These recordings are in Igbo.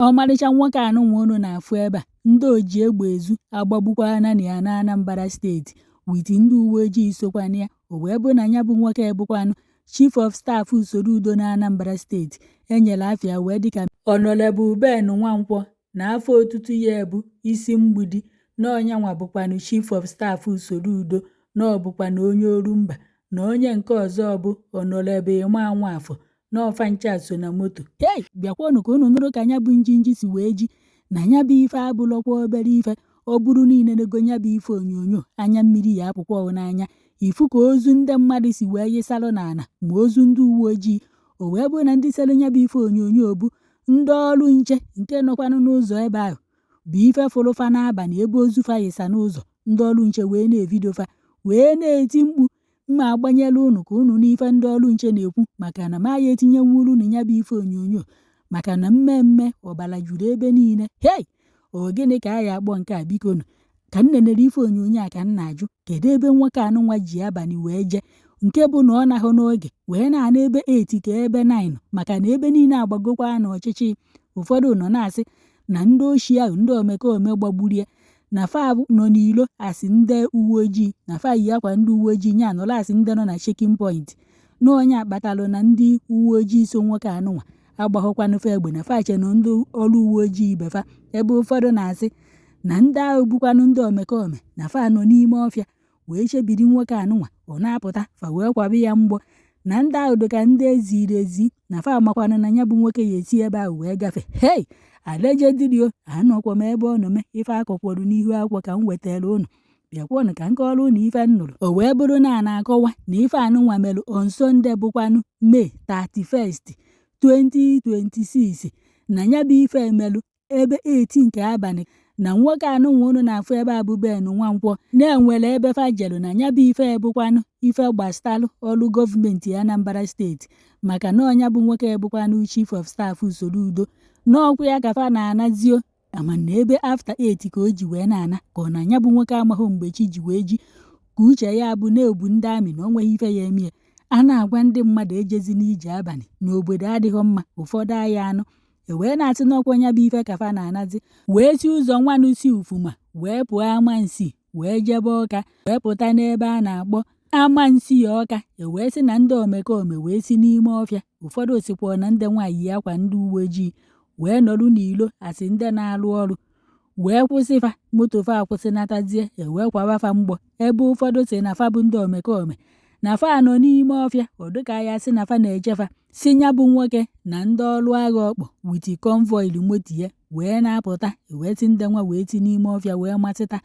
Ọmarịcha nwoke anụnwa unu na-afụ ebe a, ndị oji egbe ezu agbagbukwana nya n'Anambra steeti wit ndị uweojii sokwanụ ya. O wee bụ na nya bụ nwoke bụkwanụ Chief of Staff Soludo n'Anambra steeti e nyere afa ya wee dịka Honorable Ben Nwankwọ na afa otutu ya bụ Isi Mgbidi na ọ nyanwa bụkwanụ Chief of Staff Soludo na ọ bụkwanụ onye Orumba na onye nke ọzọ bụ Honorable Emma Nwafọ na ọ fa ncha so na moto hei bịakwanụ ka unu nụrụ ka nya bụ njinji si wee ji na nya bụ ife abụlọkwa obere ife ọ bụrụ na i lenego nya bụ ife onyonyo anya mmiri ya apụkwa ọ n'anya ịfụ ka ozu ndị mmadụ si wee yịsalụ n'ala ma ozu ndị uwe ojii o wee bụrụ na ndị sere nya bụ ife onyonyo bụ ndị ọrụ nche nke nọkwanụ n'ụzọ ebe ahụ bụ ife fụrụ fa n'abalị ebe ozu fa yịsa n'ụzọ ndị ọrụ nche wee na-evidio fa wee na-eti mkpu m ma agbanyela unu ka unu nụ ife ndị ọrụ nche na-ekwu maka na m aya etinyenwuru unu nya bụ ife onyonyo maka na mmee mmee ọbara juru ebe niile hei ọ gịnị ka a ya akpọ nke a biko nụ ka m nenere ife onyonyo a ka m na-ajụ kedu ebe nwoke anụnwa ji abalị wee jee nke bụ na ọ nahụ n'oge wee na-ana ebe 8 ka ebe 9 maka na ebe niile agbagokwanụ ọchịchị ụfọdụ nọ na-asị na ndị oshi ahụ ndị omekome gbagburu ya na fa nọ n'ilo asị ndị uwe ojii na fa yi akwa ndị uwe ojii nya nọrọ asị ndị nọ na checking point na ọ nya kpatalụ na ndị uwe ojii so nwoke anụnwa agbaghọkwanụ fa egbe na fa che na ndị ọrụ uwe ojii ibe fa ebe ụfọdụ na-asị na ndị ahụ bụkwanụ ndị omekome na fa nọ n'ime ọfịa wee chebiri nwoke anụnwa ọ na-apụta fa wee kwaba ya mgbọ na ndị ahụ dịka ndị e ziri ezi na fa makwana na ya bụ nwoke ya esi ebe ahụ wee gafe hei allegedly o anọkwa m ebe ọ nọ mee ife a kọkwọrụ n'ihu akwụkwọ ka m wetara unu bịakwanụ ka m kọọrọ unu ife m nụrụ o wee bụrụ na a na-akọwa na ife anụnwa mere on Sunday bụkwanụ May 31st 2026 na ya bụ ife emelụ ebe 8 nke abalị na nwoke anụnwa unu na-afụ ebe a bụ Ben Nwankwọ na e nwere ebe fa jelu na ya bụ ife ebụkwanụ ife gbastalụ ọrụ gọọmenti Anambra steeti maka na ọ nya bụ nwoke ebụkwanụ chief of staff Soludo na ọ kwa ya ka fa na-anazi o amana ebe after 8 ka o ji wee na-ana ka ọ na ya bụ nwoke amaghị mgbe chi ji wee ji ka uche ya bụ na e bu ndị army na o nweghị ife ya emie a na-agwa ndị mmadụ ejezina ije abalị na obodo adịghị mma ụfọdụ aya anụ e wee na-asị na ọ kwa nya bụ ife ka fa na-anazi wee si ụzọ nwanụ si Ufuma wee pụọ Amansea wee jebe Ọka wee pụta n'ebe a na-akpọ Amansea Ọka e wee sị na ndị omekome wee si n'ime ọfịa ụfọdụ sịkwa na ndị nwa yi akwa ndị uwe ojii wee nọrụ n'ilo asị ndị na-arụ ọrụ wee kwụsị fa moto fa akwụsịnatazie ewee kwawa fa mgbọ ebe ụfọdụ sị na fa bụ ndị omekome na fa nọ n'ime ọfịa ọ dịka ya sị na fa na-eche fa si nya bụ nwoke na ndị ọrụ agha ọ kpọ with convoy moto ya wee na-apụta wee si ndị nwa wee si n'ime ọfịa wee masịta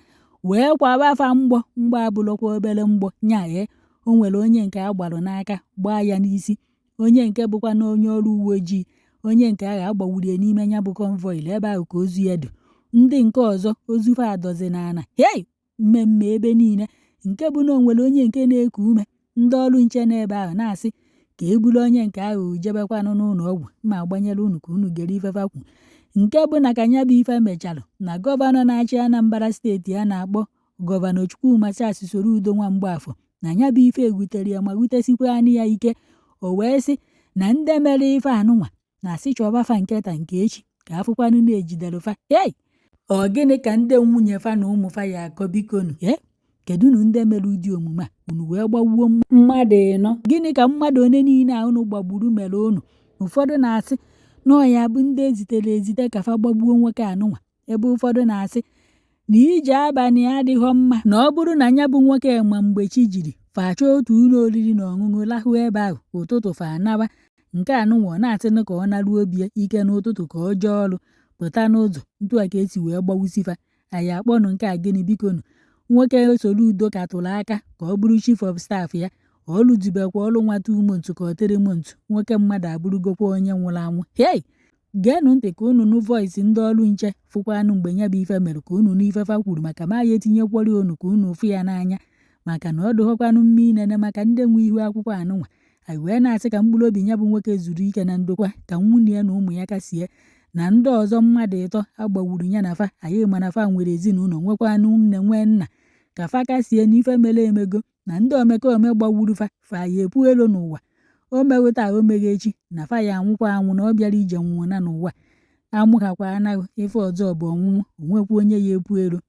wee kwawa fa mgbọ mgbọ abụlọkwa obere mgbọ nya ee o nwere onye nke a gbarụ n'aka gbaa ya n'isi onye nke bụkwa na onye ọrụ uwe ojii onye nke agha agbawurie n'ime ya bụ convoy ebe ahụ ka ozu ya dị ndị nke ọzọ ozu fa adọzi n'ala hei mmee mmee ebe niile nke bụ na o nwere onye nke na-eku ume ndị ọrụ nche n'ebe ahụ na-asị ka e buru onye nke ahụ jebekwanụ n'ụlọ ọgwụ ma gbanyere unu ka unu gere ife fa kwu nke bụ na ka nya bụ ife mechara na gọvanọ na-achị Anambra steeti a na-akpọ Gọvanọ Chukwuma Charles Soludo nwa Mgbafọ na ya bụ ife ewutere ya ma wutesikwanị ya ike o wee sị na ndị mere ife anụnwa na-asị chọba fa nke taa nke echi ka a fụkwanụ na e jidere fa ei ọ gịnị ka ndị nwunye fa na ụmụ fa ya akọ bikonu ee kedu unu ndị mere ụdị omume a unu wee gbagbuo mmadụ ịnọ gịnị ka mmadụ one niile a unu gbagburu mere unu ụfọdụ na-asị na ọ ya bụ ndị e zitere ezite ka fa gbagbuo nwoke anụnwa ebe ụfọdụ na-asị na ije abalị adịghọ mma na ọ bụrụ na ya bụ nwoke ma mgbe chi jiri fa achọọ otu ụlọ oriri na ọṅụṅụ lahụ ebe ahụ ụtụtụ fa anawa nke anụnwa ọ na-asịnụ ka ọ naruo be ya ka n'ụtụtụ ka ọ jee ọrụ pụta n'ụzọ ntu a ka e si wee gbawusi fa anyị akpọnụ nke a gịnị bikonu nwoke Soludo ka tụrụ aka ka ọ bụrụ chief of staff ya ọ lụzibekwa ọrụ nwa two months ka ọ three months nwoke mmadụ abụrụgokwa onye nwụrụ anwụ hei Geenụ ntị ka unu nụ voice ndị ọrụ nche, fụkwanụ mgbe ya bụ ife mere ka unu nụ ife fa kwuru maka ma ya etinyekwọrị unu ka unu fụ ya n'anya maka na ọ dụghọkwanụ mma inene maka ndị nwe ihu akwụkwọ anụnwa. Anyị wee na-asị ka mkpụrụ obi ya bụ nwoke zuru ike na ndokwa ka nwunye ya na ụmụ ya kasie na ndị ọzọ mmadụ ịtọ a gbawuru ya na fa anyị ma na fa nwere ezinụlọ nwekwanụ nne nwee nna ka fa kasie na ife mere emego na ndị omekome gbagburu fa fa ya epu elu n'ụwa o meghị taa o meghị echi na fa ya anwụkwa anwụ na ọ bịara ije nwe ụna n'ụwa a mụhakwa anyị ife ọzọ bụ ọnwụnwụ o nwekwa onye ya epu elu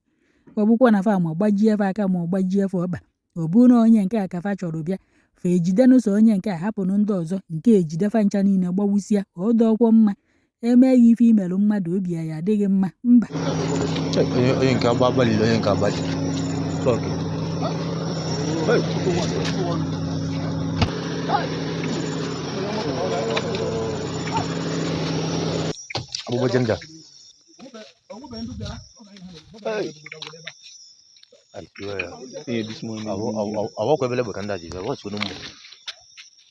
ọ bụkwa na fa ma gbajie fa aka ma ọ gbajie fa ọkpa ọ bụrụ na onye nke a ka fa chọrọ bịa fa ejidenụ sọ onye nke a hapụnụ ndị ọzọ nke ejide fa ncha niile gbawusịa ọ dụghọkwa mma e mee gị ife i mere mmadụ obi ya adị gị mma mba onye nke agba abalị onye nke abalị abubuwa janga awa kwebele bwe kanda jibe wachwe numu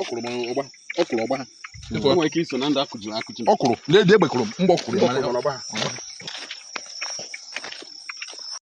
ọkwụrụ m ọgba ọkwụrụ ọgba nwere ike iso na ndị akụji akụji. ọkwụrụ na-eji egbe kụrụ mgbe ọkwụrụ ọgba.